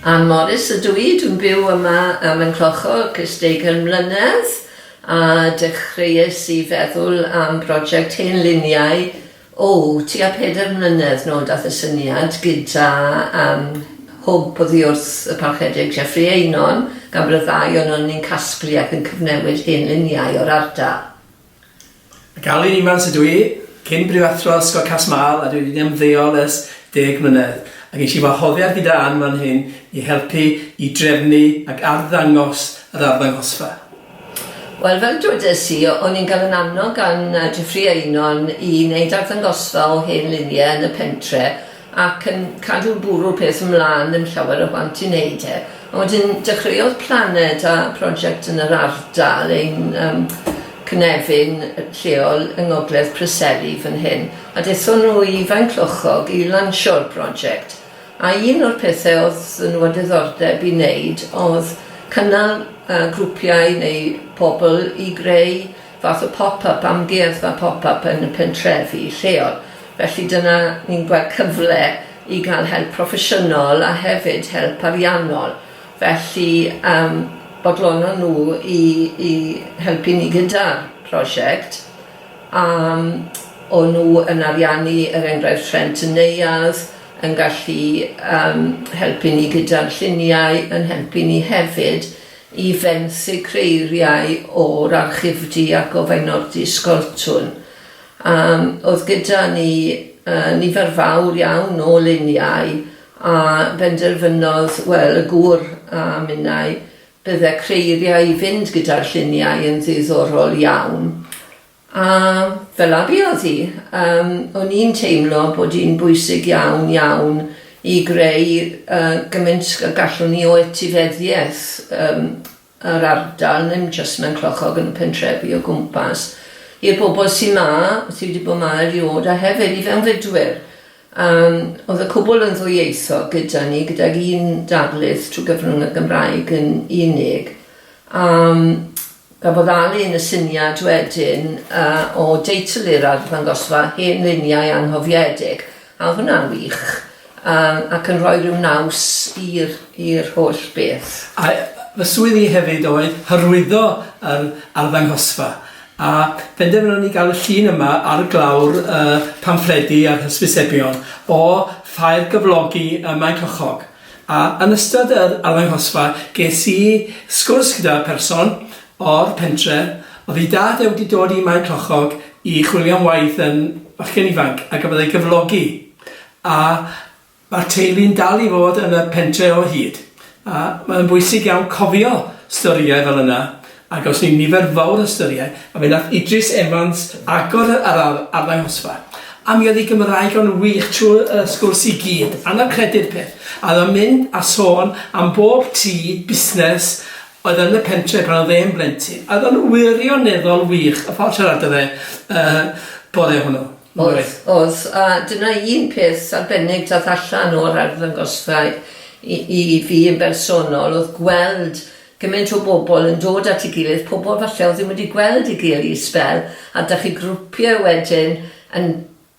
Ann Morris ydw i, dwi'n byw yma ym Mhenllocog ers deugain mlynedd a dechreuais i feddwl am broject hen luniau, o, tua pedair mlynedd nôl daeth y syniad gyda yym hwb oddi wrth y Parchedig Jeffrey Eynon gan bod y ddau ohonon ni'n casglu ac yn cyfnewid hen luniau o'r ardal. Ac Alun Evans ydw i, cyn brifathro Ysgol Cas-mâl a dwi wedi ymddeol ers deg mlynedd, a gesh i wahoddiad gyda Ann fan hyn i helpu i drefnu ac arddangos yr arddangosfa. Wel, fel dwedais i, o'n i'n cael yn annog gan Jeffrey Eynon i wneud arddangosfa o hen luniau yn y pentre, ac yn cadw bwrw'r peth ymlân, ddim llawer o bant i wneud e. Ond wedyn dechreuodd Planed a prosiect yn yr ardal, ein um, cynefin lleol yng Ngogledd Preseli fan hyn, a dethon nhw i Faenclochog i lansio'r prosiect. A un o'r pethau oedd nhw a diddordeb i wneud oedd cynnal uh, grwpiau neu pobl i greu fath o pop-up, amgueddfa pop-up yn y pentrefi lleol. Felly dyna ni'n gweld cyfle i ga'l help proffesiynol a hefyd help ariannol, felly yym bodlonnon nhw i i helpu ni gyda'r prosiect a yym o' nhw yn ariannu er enghraifft rhent y neuadd, yn gallu yym helpu ni gyda'r lluniau, yn helpu ni hefyd i fenthyg creiriau o'r Archifdy a gofenno'r Dysgoltwn a oedd gyda ni nifer fawr iawn o luniau a benderfynodd, wel, y gŵr a minnau, bydde creiriau i fynd gyda'r lluniau yn ddiddorol iawn. A fel a buodd hi, yym, o'n i'n teimlo bod hi'n bwysig iawn, iawn i greu yy gymaint a gallwn ni o etifeddiaeth yym yr ardal, ddim jyst mewn clochog yn y pentrefi o gwmpas, i'r bobl sy' 'ma, sy' 'di bod 'ma eriôd, a hefyd i fewnfudwyr. Yym o'dd y cwbwl yn ddwyieithog gyda ni, gydag un darlith trwy gyfrwng y Gymraeg yn unig, a yym Cafodd Alun y syniad wedyn o deitlu'r arddangosfa 'Hen Luniau Anghofiedig', a oedd hwnna'n wych, ac yn rhoi rhyw naws i'r holl beth. A fy swydd i hefyd oedd hyrwyddo yr arddangosfa, a phenderfynon ni gael y llun yma ar glawr y pamffledi a'r hysbysebion o Ffair Gyflogi ym Maenclochog. A yn ystod yr arddangosfa ges i sgwrs gyda pherson o'r pentre, oedd ei dad e wedi dod i Mae Clochog i chwilio am waith yn fachgen ifanc a gafodd ei gyflogi, a ma'r teulu'n dal i fod yn y pentre o hyd, a mae o'n bwysig iawn cofio storïau fel yna, Ac os yw nifer fawr o ystyried, a fe nath Idris Evans agor yr ardd arddangosfa, a mi oedd ei Gymraeg o'n wych trwy y sgwrs i gyd, anaf credu'r peth, a oedd o'n mynd a sôn am bob tŷ busnes oedd yn y pentre pan oedd e'n blentyn, a oedd o'n wirioneddol wych y ffordd siarad o fe y bore hwnnw. Oedd, oedd, a dyna un peth arbennig dath allan o'r arddangosfa i i fi yn bersonol oedd gweld Gymaint o bobl yn dod at ei gilydd, pobl falle oedd ddim wedi gweld ei gilydd i sbel, a dach chi'n grwpio wedyn yn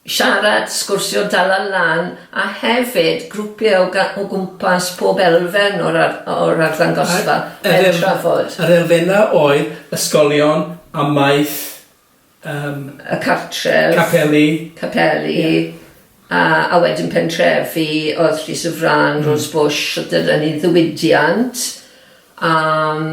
siarad, sgwrsio, dala lan, a hefyd grwpio o gwmpas pob elfen o'r o'r arddangosfa yn trafod. Yr elfennau oedd ysgolion, amaeth, yym... y cartref... capeli... capeli a a wedyn pentrefi o'dd Llys y Frân, Rose Bush a dyna ni ddiwydiant a yym...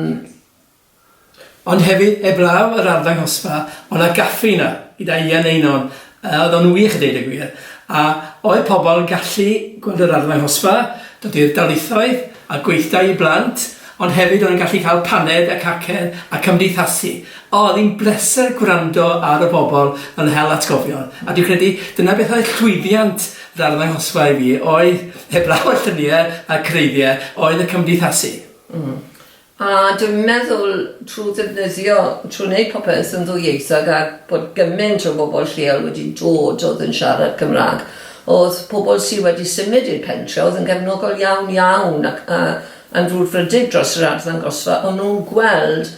Ond hefyd 'eblaw'r arddangosfa o' 'na gaffi 'na gyda Ian Einon Yy o'dd o'n wych a deud y gwir a oedd pobol yn gallu gweld yr arddangosfa, dod i'r darlithoedd a gweithdai i blant ond hefyd o'n i'n gallu ca'l paned a cacen a cymdeithasu. O o'dd 'i'n bleser gwrando ar y bobol yn hel atgofion a dwi'n credu dyna beth oedd llwyddiant yr arddangosfa i fi oedd heblaw y llunie a'r creigie oedd y cymdeithasu. Hmm. A dwi'n meddwl trwy ddefnyddio, trwy wneud popeth yn ddwyieithog a bod gymaint o bobl lleol wedi dod oedd yn siarad Cymraeg, oedd pobl sy wedi symud i'r pentre oedd yn gefnogol iawn iawn ac yy yn frwdfrydig dros yr arddangosfa, o'n nhw'n gweld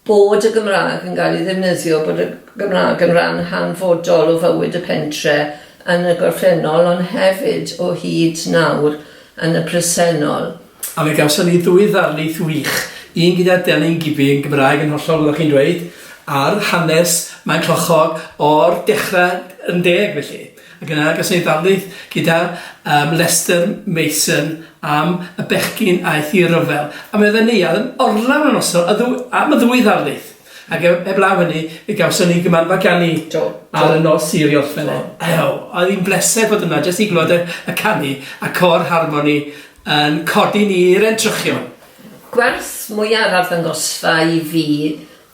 Bod y Gymraeg yn cael ei ddefnyddio, bod y Gymraeg yn ran hanfodol o fywyd y pentre yn y gorffennol ond hefyd o hyd nawr yn y presennol. A fe gawson ni ddwy ddarlith wych, un gyda Delyn Gibbie yn Gymraeg yn hollol fel o'ch chi'n dweud, ar hanes Maen Clochog o'r dechre yn deg felly. Ac yn agos ei ddarlith gyda yym Lester Mason am y bechgyn aeth i ryfel. A mi oedden ni ar yn orlawn y noson y ddw- am y ddwy ddarlith. Ac ef- heblaw hynny fe gawson ni gymanfa ganu Do do. Ar y nos i Orffen e. Ew oedd hi'n bleser bod yna jyst i glywed y y canu a côr harmoni yn codi ni i'r entrychion. Gwerth mwyaf arddangosfa i fi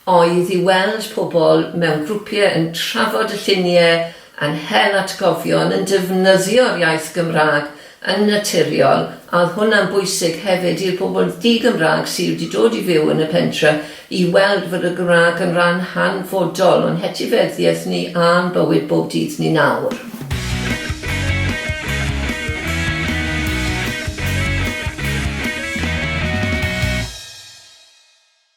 oedd i weld pobl mewn grwpiau yn trafod y lluniau yn hel atgofion, yn defnyddio'r iaith Gymraeg yn naturiol, a oedd hwnna'n bwysig hefyd i'r pobl di-Gymraeg sy' wedi dod i fyw yn y pentre i weld fod y Gymraeg yn rhan hanfodol o'n hetifeddiaeth ni a'n bywyd bob dydd ni nawr.